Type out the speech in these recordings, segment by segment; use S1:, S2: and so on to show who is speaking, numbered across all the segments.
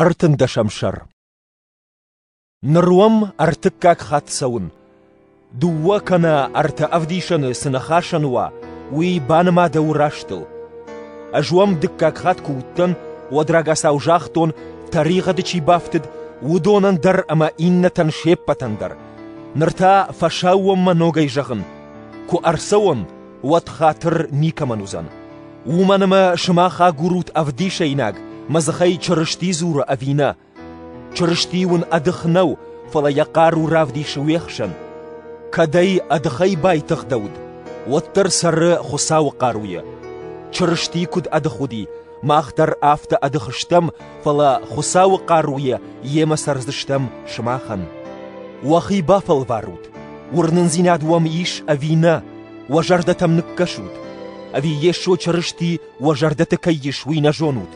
S1: Ӕртындӕсӕм сӕр Ныр уӕм ӕртыккаг хатт цӕуын. Дыууӕ кӕнӕ ӕртӕ ӕвдисӕны цы ныхасӕн уа, уый баныма дӕ у растыл. Ӕз уӕм дыккаг хатт куы уыдтӕн, уӕд рагацау загътон, тӕригъӕды чи бафтыд, уыдонӕн дӕр ӕмӕ иннӕтӕн се ппӕтӕн дӕр. Ныр та фӕсаууонмӕ ногӕй зӕгъын. Куы ӕрцӕуон, уӕд хатыр никӕмӕн уыдзӕн. Уымӕн ӕмӕ сымах агурут ӕвдисӕйнаг, мӕ дзыхӕй Чырысти дзуры ӕви нӕ. Чырысти уын ӕдых нӕу, фӕлӕ йӕ хъару равдисы уе хсӕн. Кӕд ӕй ӕдыхӕй байтыгъдӕуд, уӕддӕр цӕры Хуыцауы хъаруйӕ. Чырысти куыд ӕдых уыди, Мах дӕр афтӕ ӕдых стӕм, фӕлӕ Хуыцауы хъаруйӕ йемӕ цӕрдзыстӕм сымахӕн. Уӕхи бафӕлварут, уырнындзинад уӕм ис ӕви нӕ, уӕ зӕрдӕтӕм ныккӕсут. Ӕви Йесо Чырысти уӕ зӕрдӕты кӕй ис, уый нӕ зонут?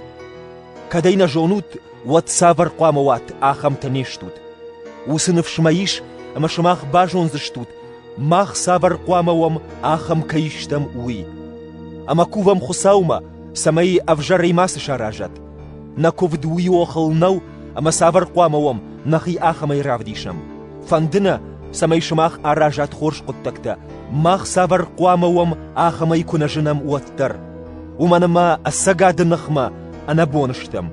S1: Кӕдӕй нӕ зонут, уӕд цавӕр хъуамӕ уат, ахӕмтӕ не стут. Уыцы ныфс мӕ ис, ӕмӕ сымах базондзыстут, мах цавӕр хъуамӕ уӕм, ахӕм кӕй стӕм, уый. Ӕмӕ кувӕм Хуыцаумӕ, цӕмӕй ӕвзӕрӕй мацы саразат. Нӕ куывд уый охыл нӕу, ӕмӕ цавӕр хъуамӕ уӕм нӕхи ахӕмӕй равдисӕм? Фӕнды нӕ, цӕмӕй сымах аразат хорз хъуыддӕгтӕ, мах цавӕр хъуамӕ уӕм ахӕмӕй куы нӕ зынӕм, уӕддӕр. Уымӕн ӕмӕ ӕцӕгады ныхмӕ ӕнӕбон стӕм.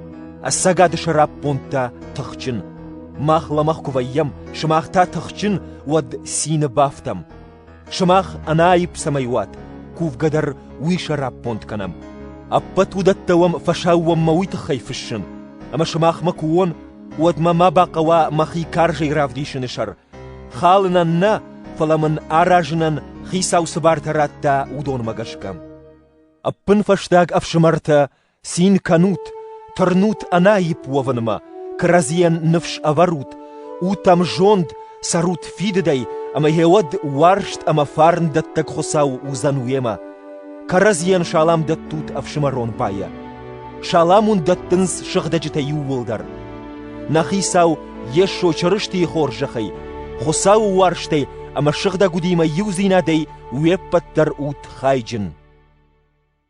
S1: Ӕцӕгады сӕраппонд та тыхджын. Мах лӕмӕгъ куы вӕййӕм, сымах та тыхджын, уӕд цины бафтӕм. Сымах ӕнаипп цӕмӕй уат, кувгӕ дӕр уый сӕраппонд кӕнӕм. Ӕппӕт уыдӕттӕ уӕм фӕсаууонмӕ уый тыххӕй фыссын, ӕмӕ сымахмӕ куы уон, уӕд мӕ ма бахъӕуа мӕхи карзӕй равдисыны сӕр. Халынӕн нӕ, фӕлӕ мын аразынӕн Хицау цы бартӕ радта, уыдонмӕ гӕсгӕ. Ӕппынфӕстаг ӕфсымӕртӕ Цин кӕнут, тырнут ӕнаипп уӕвынмӕ, кӕрӕдзийӕн ныфс ӕвӕрут, утӕм зонд цӕрут фидыдӕй, ӕмӕ гъеуӕд уарзт ӕмӕ фарн дӕттӕг Хуыцау уыдзӕн уемӕ. Кӕрӕдзийӕн салам дӕттут ӕфсымӕрон байӕ. Салам уын дӕттынц сыгъдӕджытӕ иууылдӕр. Нӕ Хицау Йесо Чырыстийы хорзӕхӕй, Хуыцауы уарзтӕй ӕмӕ сыгъдӕг удимӕ иудзинадӕй уе ппӕт дӕр ут хайджын.